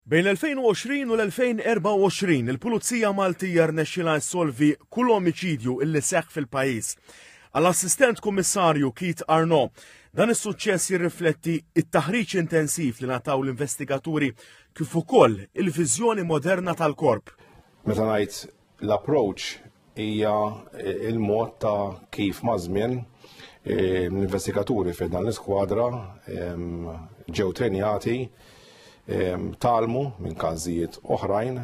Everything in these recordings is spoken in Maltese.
Bejn l-2020 u l-2024, il-Pulizija Maltija rnexxilha ssolvi kull omiċidju illi seħħ fil-pajjiż. Għall-Assistent Kummissarju Keith Arno, dan is-suċċess jirrifletti it-taħriġ intensiv li nataw l-investigaturi kif ukoll il-viżjoni moderna tal-korp. Meta ngħid L-approach hija eh, il-mod ta' kif mażmien eh, l-investigaturi fi dan l-iskwadra ehm, ġew trenjati ehm, talmu minn każijiet oħrajn,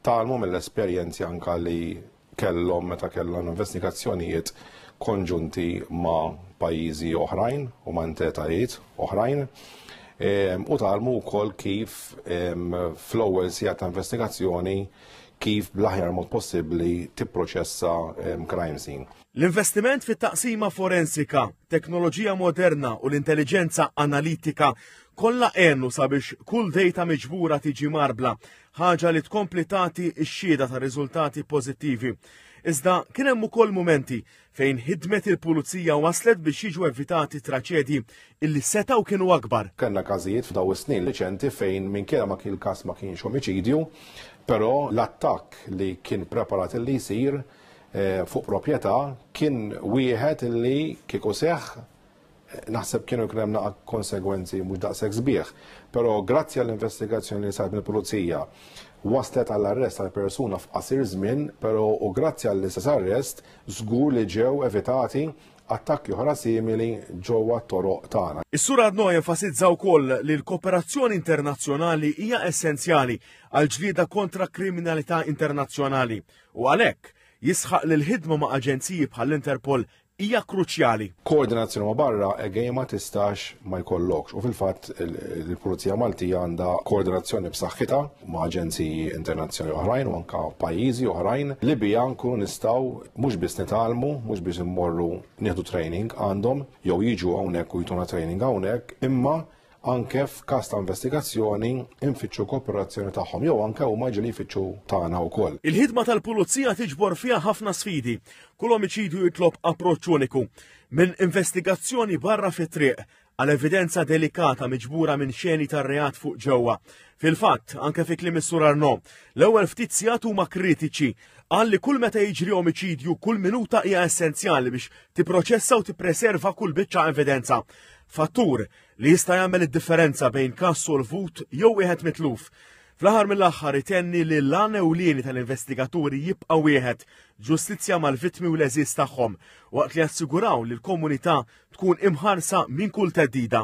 talmu mill-esperjenzi anka li kellhom meta kellhom investigazzjonijiet konġunti ma' pajjiżi oħrajn u ma' entitajiet oħrajn ehm, u talmu wkoll kif fl-ewwel sija ta' investigazzjoni kif bl-aħjar mod possibbli tipproċessa crime scene. L-investiment fit-taqsima forensika, teknoloġija moderna u l-intelligenza analitika kollha għenu sabiex kull dejta miġbura tiġi marbla, ħaġa li tkompli tagħti x-xhieda ta' riżultati pożittivi. Iżda kien hemm ukoll mumenti fejn ħidmet il-pulizija waslet biex jiġu evitati traċedji illi setgħu kienu akbar. Kellna każijiet f'daw is-snin riċenti fejn minkejja ma kien każ ma kienx omiċidju, però l-attakk li kien preparat illi jsir eh, fuq proprjetà kien wieħed illi kieku seħħ naħseb kienu jkun hemm naqa' konsegwenzi mhux daqshekk sbieħ. Però grazzi għall-investigazzjoni li saret mill-Pulizija waslet għall-arrest tal-persuna f'qasir żmien, però u grazzi għall-istess arrest żgur li ġew evitati attakki oħra simili ġewwa t-toroq tagħna. Is-Sur Adno jenfasizza wkoll li l-kooperazzjoni internazzjonali hija essenzjali għal ġlieda kontra kriminalità internazzjonali u għalhekk jisħaq li l-ħidma ma' aġenziji bħall-Interpol hija kruċjali. Koordinazzjoni ma' barra għejja ma tistax ma jkollokx. U fil-fatt il-Pulizija Maltija għandha koordinazzjoni b'saħħitha ma' aġenziji internazzjonali oħrajn u anka pajjiżi oħrajn li bija nkunu nistgħu mhux biss nitgħalmu, mhux biss immorru nieħdu training għandhom jew jiġu hawnhekk u jtuna training hawnhekk, imma anke f'każ ta' investigazzjoni nfittxu kooperazzjoni tagħhom jew anke huma jiġu li jfittxu tagħna wkoll. Il-ħidma tal-pulizija tiġbor fiha ħafna sfidi. Kull omiċidju jitlob approċċ uniku. Minn investigazzjoni barra fit-triq għal evidenza delikata miġbura minn xeni tar-reat fuq ġewwa. Fil-fatt, anke fi kliem is-Sur Arno, l-ewwel ftit sigħat huma kritiċi qal li kull meta jiġri omiċidju kull minuta hija essenzjali biex tipproċessa u tippreserva kull biċċa evidenza. Fattur li jista' jagħmel id-differenza bejn każ solvut jew wieħed mitluf. Fl-aħħar mill-aħħar itenni li l-għan ewlieni tal-investigaturi jibqa' wieħed, ġustizzja mal-vittmi u l-għeżież tagħhom, waqt li jassiguraw li l-komunità tkun imħarsa minn kull theddida.